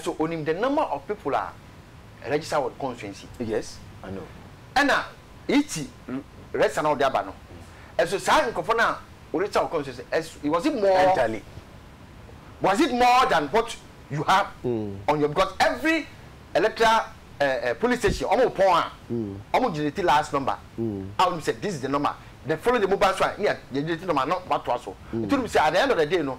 So o nim the number of people a register wɔ constituency. Yes I know. Ɛna iti register na ɔde aba no ɛso saa nkorɔfoɔ no a o register wɔ constituency ɛso was it more. Entirely. Was it more than what you have on your because every electoral eh eh polling station ɔmo pɔn a ɔmo generate last number a wonim sɛ this is the number the following day mo ba nso a ne yɛ generate number no mo atoa so nti wonim sɛ at the end of the day no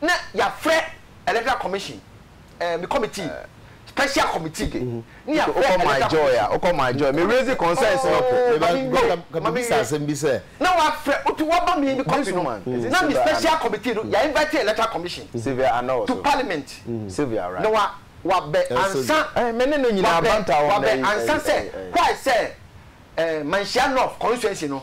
na yɛafrɛ electoral commission eh, me committee, special committee de, ne yɛafrɛ electoral commission. Wokɔ my joy a, wokɔ my joy, me raise concerns no po. Oh, mami nyo, mami nyo. Na wafrɛ, wotu waba mi mi copy no, na mi special committee no, yɛ invite electoral commission to parliament. Na wa, wa bɛ ansa, wa bɛ, wa bɛ ansa sɛ, why sɛ eh, Manhyia North constituency no,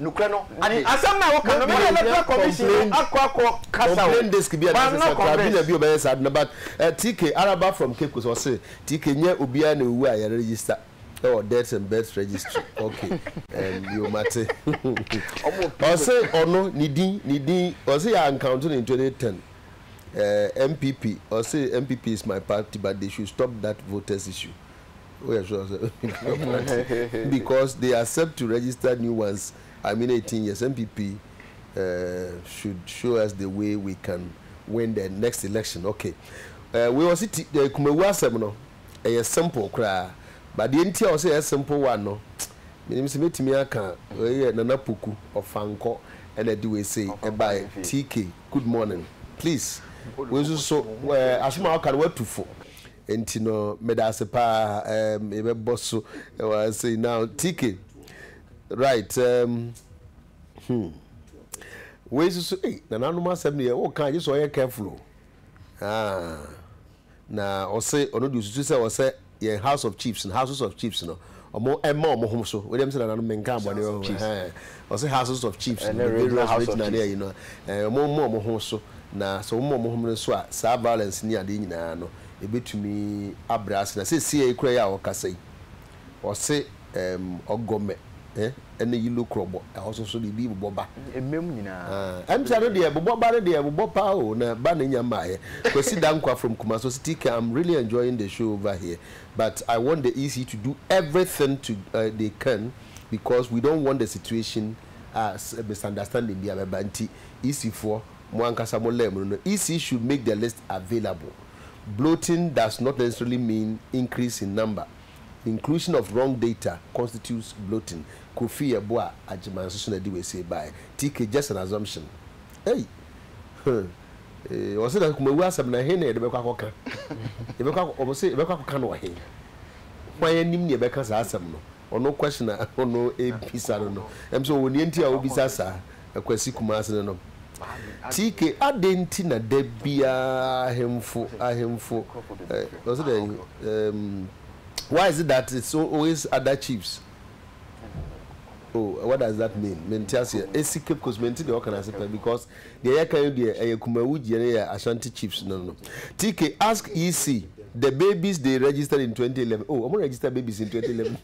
Nokorɛ no ade. Ade asɛm no a woka no, me na mɛfrɛ commission no akɔ akɔ kasa o. Complain desk bi a na asɛ sɛ tribunal bi ɔbɛyɛ saa ade no but eh, TK Araba from Kekos ɔse TK nyɛ obiara na owu a yɛ register ɛwɔ deaths and births registry ok em yo mate ɔse ɔno ne din ne din ɔse yɛ uncounto no in 2010 eh, NPP ɔse NPP is my party but they should stop that voters issue. woyɛ sure sɛ because they accept to register new ones I mean eighteen years NPP uh, eh, should show us the way we can win the next election okay uh, wei ɔsi ti uh, kumawu asɛm no ɛyɛ simple koraa badeɛ nti a ɔsɛ ɛyɛ simple one no menim sɛ mɛtumi aka ɛyɛ nana poku ɔfankɔ ɛna ɛde wei sei ɛbae tk good morning please wei nso so asoma ɔka no watu fo Nti no medase paa ehm yɛbɛbɔ so wɔ ha sei now TK right ehm hmm wei soso ei nananom asɛm no yɛ woka gye sɛ ɔyɛ careful o ah na ɔse ɔno de osusu sɛ ɔsɛ yɛn house of chiefs no houses of chiefs no Ɔmo mma ɔmo ho so. Wei deɛ mesɛ nananom menkaa bɔne wɔ ho ɛhɛn. Ɔse houses of chiefs no, various regional ne ayi no a, ɔmo mma ɔmo ho so na sɛ ɔmo ma ɔmo ho no so a, saa violence ne adeɛ nyinaa no ɛbɛtumi abrɛ ase. Na seesei koraa yi a ɔrekasa yi, ɔse ɛɛm Ɔgɔmɛ eh ne Yilo Krɔbɔ, ɛhɔ so nso biribi bobɔ ba. Mmam nyinaa. Ah, ɛmtra no deɛ bobɔ ba no deɛ ɛbobɔ paa o, na ba na ɛnya mmaeɛ. Kwasi Dankwah from Kumasi ɔse TK I'm really enjoying the show over here, but I want the EC to do everything to eh, they can because we don't want the situation a misunderstanding bi a bɛba nti EC foɔ mo ankasa mo lɛɛ mo no no EC should make the list available bloating does not necessarily mean increase in number inclusion of wrong data constitutes bloating Kofi yɛ boa Agyeman nso so na ɛde wei sei baeɛ TK just an assumption ei huh. Ee, wɔse na Kumawu asɛm no, ɛhe na yɛde bɛkɔ akɔka? Yɛbɛkɔ akɔ, wɔn se yɛbɛkɔ akɔka no wɔ he? Hwan anim na yɛbɛka saa asɛm no? Ɔno question a ɔno ɛrebisa no no, ɛm sɛ ɔwɔ nea nti a ɔrebisa saa, Akwasi Kumase no no. TK, adɛn nti na da biara ahemfo, ahemfo, eh, wɔse dɛn, ehm, why is it that it's always other chiefs? Oh, what does that mean? Mente aseɛ. Esi Cape Coast, mente deɛ wɔka no ase pɛ because Deɛ yɛka yi deɛ ɛyɛ Kumawu gyeɛ no yɛ Ashanti Chiefs no no. TK, ask ye se the babies they registered in twenty eleven, oh wɔn register babies in twenty eleven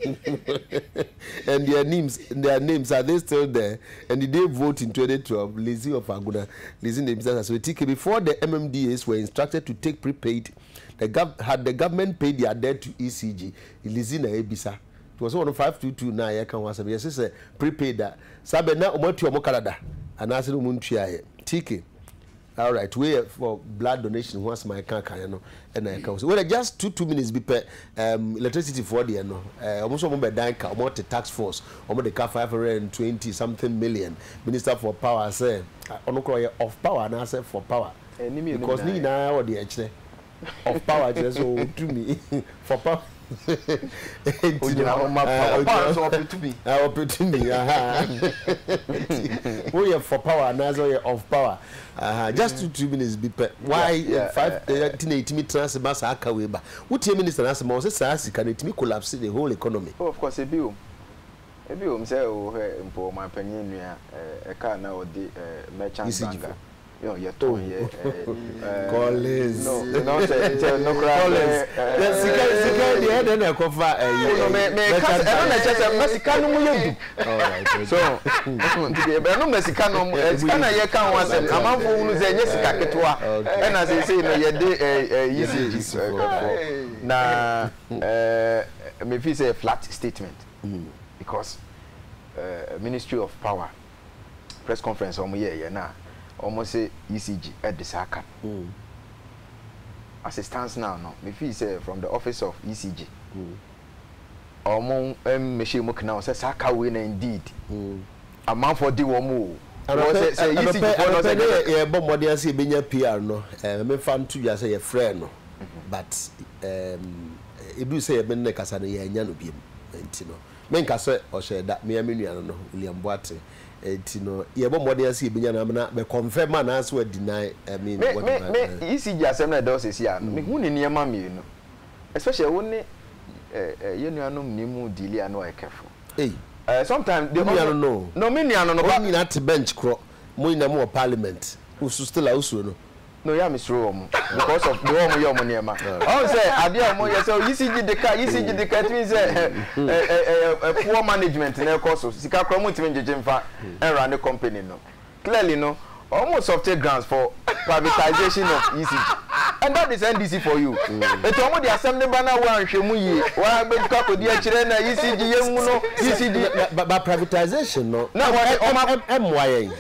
and their names their names are they still there and did they vote in twenty twelve Lizzy of Agona, Lizzy na ebisa saa asɛm no. TK, before the MMDAs were instructed to take prepaid the gov had the government paid their debt to ECG? Lizzy na ebisa. Nti wɔse wɔnom five two two no a yɛka ho asɛm yɛse sɛ prepaid a saa bɛ na wɔn atua wɔn ka dada anaase na wɔn ntuaeɛ TK alright wei yɛ for blood donation ho asɛm a yɛka kaeɛ no ɛna yɛka ho sɛ wɔde just two two minutes bi pɛ um, electricity foɔ deɛ no eh, wɔn nso wɔn bɛ dan ka wɔn te tax force wɔn de ka five hundred and twenty something million minister for power sɛ ɔno koraa ɔyɛ off power anaasɛ for power because ne nyinaa wɔ deɛ ɛkyerɛ of power kyerɛ sɛ ɔwɔ tumi for power nti na ɔpɛ tumi woyɛ for power anaasɛ ɔyɛ of power just two two minutes bi pɛ why five nti na ɛtumi tena ase ma saa ka wei ba wotie minister no ase ma ɔsɛ saa sika no ɛtumi collapse the whole economy. oh of course ebi wom ebi wom sɛ wohwɛ mpo ɔmanpanyin nua ɛka na ɔde merchant banker. Yo, yɛ tɔn oh. yɛ eh, Collins. No, you know, sɛ nkyɛ no kora. Collins, yɛ sika sika deɛ ɛdɛ na ɛkɔ fa ɛyi. Ɛno mɛ mɛ ka sɛ ɛno na ɛkyɛ sɛ mɛ sika no mu yɛ du. So, nti deɛ ɛno mɛ sika no sika na yɛ ka ho asɛm amanfo hunu sɛ ɛnyɛ sika ketewa ɛna sɛ sɛ no yɛ de ɛyi si ji ɛkɔfɔ na ɛɛ mɛ fi sɛ flat statement because uh, ministry of power. press conference a wɔn yɛɛ yɛ na wɔn se ECG ɛde saa ka no mm. as it stands now no me feel sɛ from the office of ECG wɔn mmɛhyɛ mu kena sɛ saa ka wei na indeed mm. amanfoɔ di wɔn o ɛnɔpɛ ɛnɔpɛ ne yɛbɔ mmɔden ase yɛbɛnya PR no ɛɛ eh, mefa nto dwa sɛ yɛfrɛ no mhm. but ɛɛ edu sɛ yɛbɛn ne kasa no yɛanya no biem nti no. Menka sɛ ɔhyɛɛ da, me ara me nua no no, William Boateng, nti no, yɛrebɔ mmɔden ara sɛ yɛbɛnya no amena bɛ confirm anaasɛ wa deny, I mean, Me, me, whatever, me, eh. ECG asɛm no a ɛda hɔ seesei ara no, mehu no nneɛma mmienu, especially wo ne eh, eh, yɛn nuanom ne mu deali ano a careful. Ei, Eh, sometimes wo they nua also, no no o, no, me nua no no, wɔn but, nyinaa te bench korɔ, mo nyinaa mo wɔ parliament, wo nso still a wo suro no? na ɔyɛ a me suro wɔn because of deɛ wɔn yɛ wɔn nneɛma ɔn sɛ adeɛ a wɔn yɛ sɛ yisi gyi de ka yisi gyi de ka ɛtumi sɛ ɛ ɛ ɛ poor management na ɛkɔ so sika kora wɔn ntumi ngyegye nfa ɛnra ne company no clearly no wɔn softe grounds for privatization of yisi gyi and that is ndc for you eti wɔn de asɛm ne ba na wɔn anhwɛ mu yie wɔn abɛtukɔ akɔdi akyerɛ na yisi gyi yɛn mu no yisi gyi ba privatization no na wɔn ɛmoa yɛn.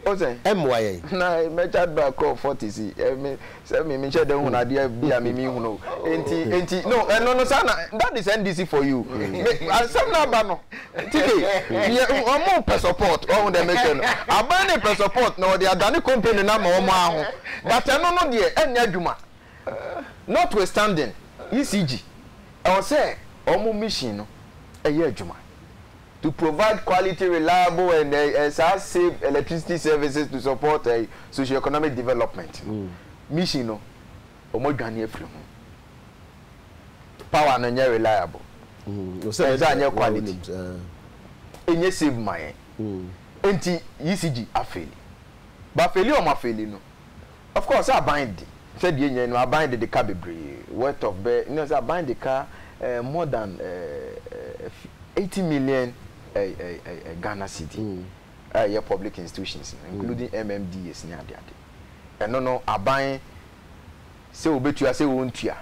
Wohu sɛ. Ɛmmoa yɛn. Na mɛgya bra kɔ forties yi, ɛ, me, sɛ me, menhyɛ da nhunu adeɛ bi a me menhunu o. Enti, enti, no, ɛno no, saa na, that is NDC for you. Me, asɛm no aba no, TK, yɛ, wɔpɛ support, woahu deɛ merekyerɛ no? Aban no repɛ support na wɔde adane company no ama wɔn ara ho, but ɛno no deɛ, ɛnyɛ adwuma. Notwithstanding, ECG, ɛwɔ sɛ wɔn mission no, ɛyɛ adwuma. to provide quality, reliable and eh, saa safe electricity services to support eh, socio-economic development no mission no wɔn adwane afiri ho power no nyɛ reliable ɛnsa nyɛ quality ɛnyɛ safe ma yɛn nti yisigi afeli bafeli wɔn afeli no Of course, aban de, sɛ deɛ yɛnya yi no, aban de de ka bebree, worth of bɛ, you know sɛ aban de ka eh, more than eh, 80 million eh, eh, eh, eh, Ghana cedi a ɛyɛ public institutions no, including MMDAs ne ade ade. Ɛno no, aban Sɛ wobetua sɛ wontua.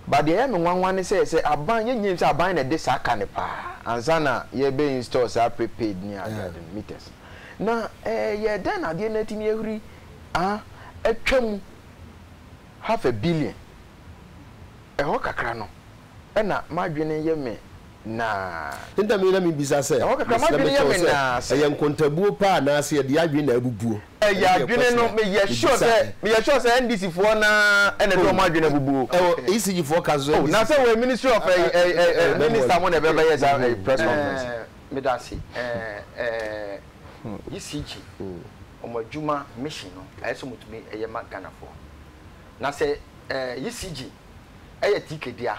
But deɛ ɛyɛ me nwanwa ne sɛ sɛ aban yɛn nyina nim sɛ aban na ɛde saa ka no paa ansa na yɛbɛ install saa prepaid ne adeade no meters no na ɛyɛ dɛn na adeɛ no atumi ahuri ah atwa mu half a billion ɛhɔ kakra no ɛna madwene yɛ me naa. Ntam yi na mebisa sɛ, ɛhɔ kakra madwene yɛ me naa sɛ. ɛyɛ nkontabuo paa anaase yɛde yɛn adwene na abubuo. Ɛyɛ adwene no meyɛ sure sɛ meyɛ sure sɛ NDC foɔ naa ɛna ɛde wɔn adwene abubu o. Ɛwɔ ECG foɔ ka so NDC. Oh na sɛ wɔ ministry of ɛyi ɛyi ɛyi minister mo na ɛbɛ bɛyɛ saa ɛyi press conference. Ɛɛ medase ɛɛ ɛɛ ECG wɔn adwuma mission no ayɛ sɛ wɔn tumi ɛyɛ ma Ghana foɔ na sɛ ɛɛ ECG ɛyɛ tike dea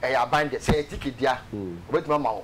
ɛyɛ aban dea sɛ ɛyɛ tike dea wɔbɛtumi ama wo.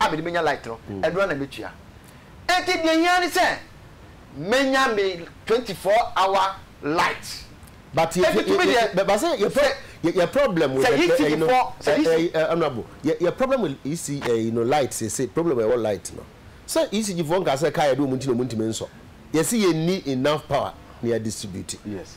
a mede bɛnya light no, ɛno ara na mɛtua. Enti deɛ ɛhia ne sɛ mɛnya me 24 hour light. But yɛ yɛ yɛ yɛ ba sɛ yɛ yɛ yɛ problem with the ɛyi no ɛyi honourable yɛ yɛ problem with EC ɛyi no light sese problem ɛwɔ light no sɛ ECG fo nka sɛ kaa yɛ de wɔn ti na wɔn ntumi nsɔ yɛsi yɛ ni enough power na yɛ distribute. Yes.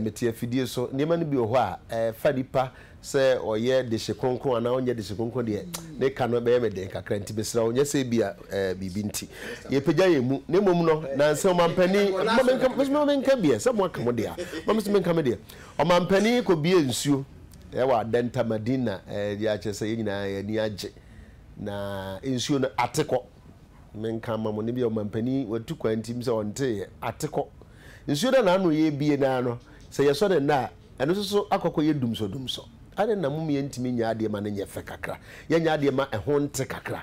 Mete afidie so. Nneɛma no bi wɔ hɔ a, ɛfa nipa sɛ ɔyɛ dehye kronkron anaa ɔnyɛ dehye kronkron deɛ, ne ka no bɛyɛ me den kakra. Nti mesrɛ wo, nyɛ sɛ ebia biribi nti yɛpagya yɛn mu, na mmom no, nansa ɔmampanin, ma menka, me nso menka bi ɛ, sɛ moaka mo deɛ a, ma me nso menka me deɛ. Ɔmampanin kɔbue nsuo wɔ Adenta, Madina, de akyerɛ sɛ yɛn nyinaa yɛn ani agye, na nsuo no, ate kɔ. Menka mma mo no, ebia ɔmampanin watu kwan nti, menim sɛ ɔnteeɛ. Ate kɔ. Nsuo no a n'ano yɛ abien no ara no, sɛ yɛsɔ no nnɛ a, ɛno nso so akɔ akɔyɛ dumsɔdumsɔ. Adɛn na mom yɛntumi nyɛ adeɛ ma no nyɛ fɛ kakra, yɛnyɛ adeɛ ma ɛho nte kakra?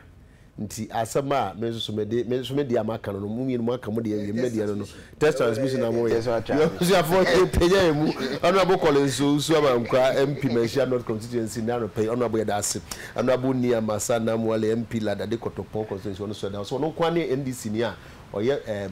Nti asɛm a me nso so mede, me nso me deɛ a maka no no, mo mmienu moaka mo deɛ awie, me deɛ no no, test transmission na moyɛ. Yɛn abusuafoɔ yɛpagya yɛn mu. Honourable Collins Owusu Amankwaa, MP Manhyia North Constituency, nnɛ anɔpa yi, Honourable yɛda ase, Honourable Nia Masa Namwali, MP Ladade Kɔtɔpɔn Constituency, ɔno nso yɛda ɔse, ɔno nko ara ne NDCni a ɔyɛ ɛɛm,